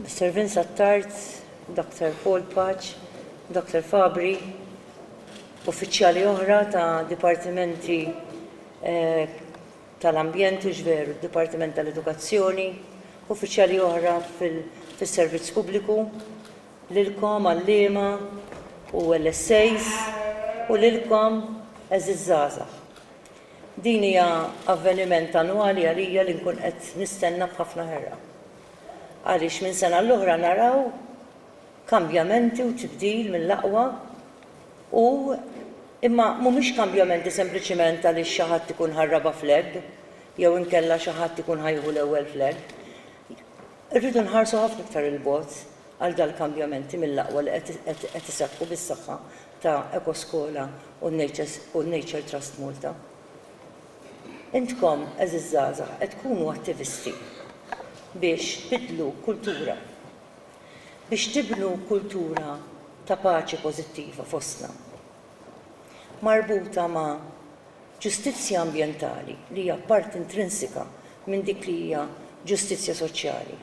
Mr. Vincent Tart, Dr. Paul Paċ, Dr. Fabri, uffiċjali oħra ta' dipartimenti eh, tal-ambjent, iġveru, dipartiment tal-edukazzjoni, uffiċjali oħra fil-servizz pubbliku, Lilkom għalliema u LSAs u lilkom għeżież żgħażagħ. Din hija avveniment annwali għalija li nkun qed nistenna b'ħafna ħerqa. Għaliex minn sena l-oħra naraw kambjamenti u tibdil mill-aqwa u imma mhumiex kambjamenti sempliċiment għaliex xi ħadd ikun ħa r-raba' flag jew inkella xi ħadd ikun ħa jieħu l-ewwel flag. Irridu nħarsu ħafna iktar 'il bogħod. għal dal-kambjamenti mill-aqwa li qed iseħħu bis-saħħa ta' Ekoskola u n-Nature Trust Malta. Intkom, għeżież żgħażagħ, qed tkunu attivisti biex tbiddlu kultura, biex tibnu kultura ta' paċi pożittiva fostna, marbuta ma' ġustizzja ambjentali li hija parti intrinsika minn dik li hija ġustizzja soċjali.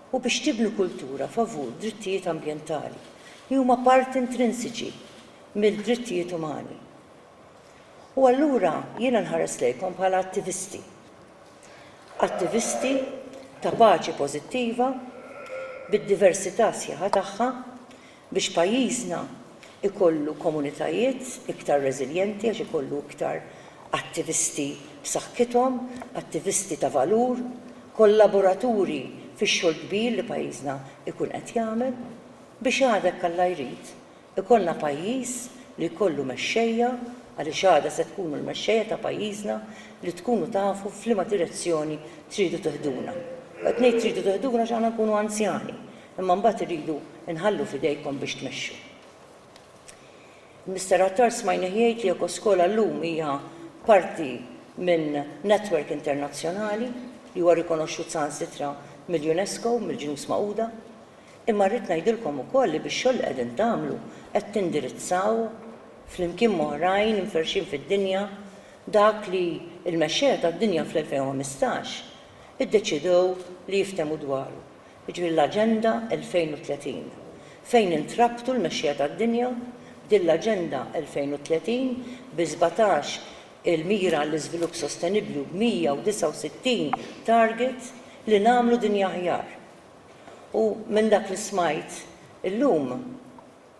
u biex tibnu kultura favur drittijiet ambjentali li huma parti intrinsiċi mill-drittijiet umani. U allura jiena nħares lejkom bħala attivisti. Attivisti ta' paċi pożittiva bid-diversità sħiħa tagħha Biex pajjiżna jkollu komunitajiet iktar reżiljenti għax ikollu iktar attivisti b'saħħithom, attivisti ta' valur, kollaboraturi fix-xogħol kbir li pajjiżna jkun qed jagħmel. Biex għada jekk Alla jrid ikollna pajjiż li jkollu mexxejja, għaliex għada se tkunu l-mexxejja ta' pajjiżna li tkunu tafu f'liema direzzjoni tridu tiħduna. U qed ngħid tridu tiħduna għax aħna nkunu anzjani. Imma mbagħad irridu nħallu f'idejkom biex tmexxu. Mister Attar smajnih jgħid li Ecoskola llum hija parti minn network internazzjonali li huwa rikonoxxut saħansitra mill-UNESCO, mill-Ġnus Magħquda. Imma rrid ngħidilkom ukoll li bix-xogħol li qegħdin tagħmlu qed tindirizzaw, flimkien m'oħrajn imferrxin fid-dinja, dak li l-mexxejja tad-dinja fl-2015 iddeċiedew li jiftehmu dwaru. jiġifieri l-Aġenda 2030, fejn intrabtu l-mexxija tad-dinja b'din l-Aġenda 2030 bi sbatax il-mira għall-iżvilupp sostenibbli u b'169 target li nagħmlu dinja aħjar. U minn dak li smajt illum,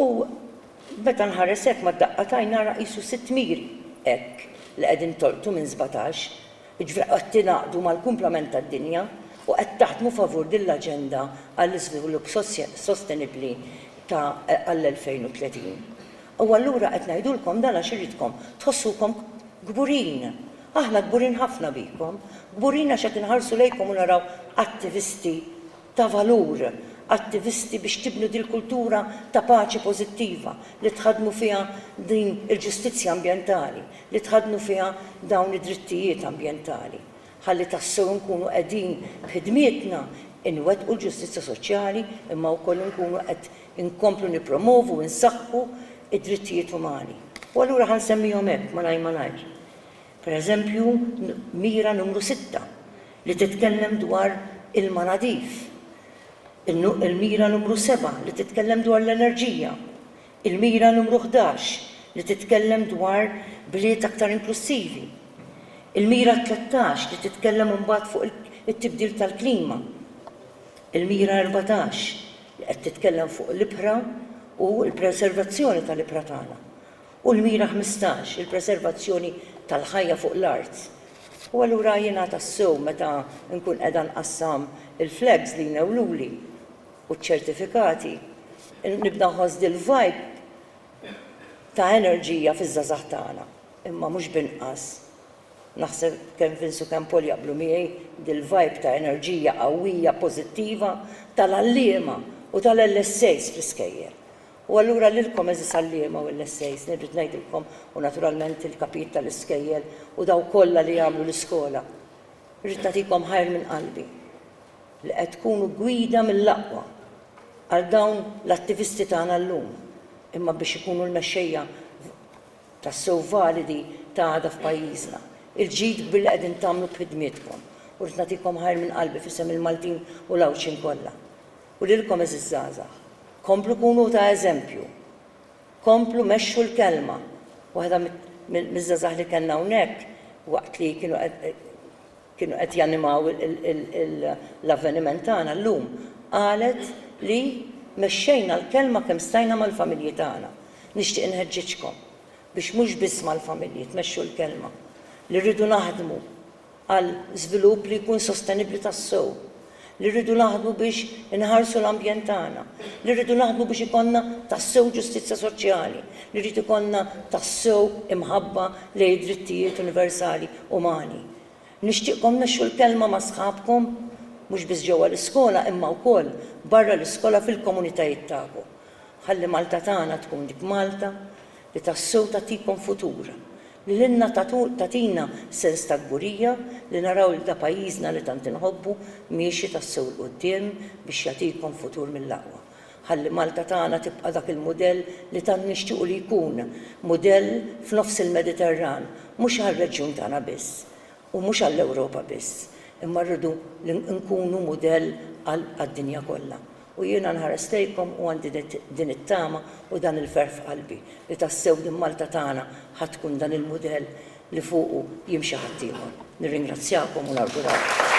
U meta nħares hekk mad-daqqa t'għajn nara qisu sitt miri hekk li qegħdin tolqtu minn sbatax, jiġifieri qed tingħaqdu mal-kumplament tad-dinja u qed taħdmu favur din l-aġenda għall-iżvilupp sostenibbli ta' għall-2030. U allura qed ngħidulkom dan għax irridkom tħossukom kburin. Aħna kburin ħafna bikom. Kburin għax qed inħarsu lejkom u naraw attivisti ta' valur, attivisti biex tibnu dil-kultura ta' paċi pożittiva li tħaddnu fiha din il-ġustizzja ambjentali, li tħaddnu fiha dawn id-drittijiet ambjentali, ħalli tassew inkunu qegħdin b'ħidmietna inwettqu l-ġustizzja soċjali imma wkoll inkunu qed inkomplu nippromovu u nsaħħu d-drittijiet umani. U allura ħa nsemmihom hekk malajr malajr. Pereżempju, mira numru sitta, li titkellem dwar ilma nadif, il-mira numru seba' li titkellem dwar l-enerġija, il-mira numru ħdax li titkellem dwar bliet aktar inklussivi, il-mira tlettax li titkellem imbagħad fuq it-tibdil tal-klima, il-mira erbatax li qed titkellem fuq l-ibħra u l-preservazzjoni tal-ibħra tagħna. U l-mira ħmistax, il-preservazzjoni tal-ħajja fuq l-art. U allura jiena tassew meta nkun qiegħda nqassam il-flags li jnewwluli u ċ-ċertifikati, nibda nħoss dil-vibe ta' enerġija fiż-żgħażagħ tagħna. Imma mhux b'inqas, naħseb kemm Vince u kemm Paul jaqblu miegħi, dil-vibe ta' enerġija qawwija pożittiva tal-għalliema u tal-LSAs fl-iskejjel. U allura lilkom għeżież għalliema u LSAs nirrid ngħidilkom u naturalment il-kapijiet tal-iskejjel u dawk kollha li jagħmlu l-iskola, rrid nagħtikom ħajr minn qalbi li qed tkunu gwida mill-aqwa għal dawn l-attivisti tagħna llum imma biex ikunu l-mexxejja tassew validi ta' għada f'pajjiżna. Il-ġid kbir li qegħdin tagħmlu b'ħidmietkom u rrid nagħtikom ħajr minn qalbi f'isem il-Maltin u l-Għawdxin kollha. U lilkom għeżież żgħażagħ, komplu kunu ta' eżempju, komplu mexxu l-kelma. Waħda miż-żgħażagħ li kellna hawnhekk waqt li kienu qed janimaw l-avveniment tagħna llum qalet li mexxejna l-kelma kemm stajna mal-familji tagħna. Nixtieq inħeġġiġkom biex mhux biss mal-familji tmexxu l-kelma, li rridu naħdmu għal żvilupp li jkun sostenibbli tassew, li rridu naħdmu biex inħarsu l-ambjent tagħna, li rridu naħdmu biex ikollna tassew ġustizzja soċjali, li jrid ikollna tassew imħabba lejn id-drittijiet universali umani. Nixtieqkom mexxu l-kelma ma' sħabkom, mhux biss ġewwa l-iskola imma wkoll barra l-iskola fil-komunitajiet tagħkom. Ħalli Malta tagħna tkun dik Malta li tassew tagħtikom futur, li lilna tagħtina sens ta' kburija li naraw lil da' pajjiżna li tant inħobbu miexi tassew 'l quddiem biex jagħtikom futur mill-aqwa. Ħalli Malta tagħna tibqa' dak il-mudell li tant nixtiequ li jkun, mudell f'nofs il-Mediterran, mhux għar-reġjun tagħna biss u mhux għall-Ewropa biss, imma rridu li nkunu mudell għad-dinja kollha. U jiena nħares lejkom u għandi din it-tama u dan il-ferħ f'qalbi li tassew din Malta tagħna ħa tkun dan il-mudell li fuqu jimxi ħaddieħor. Nirringrazzjakom u nawguralkom.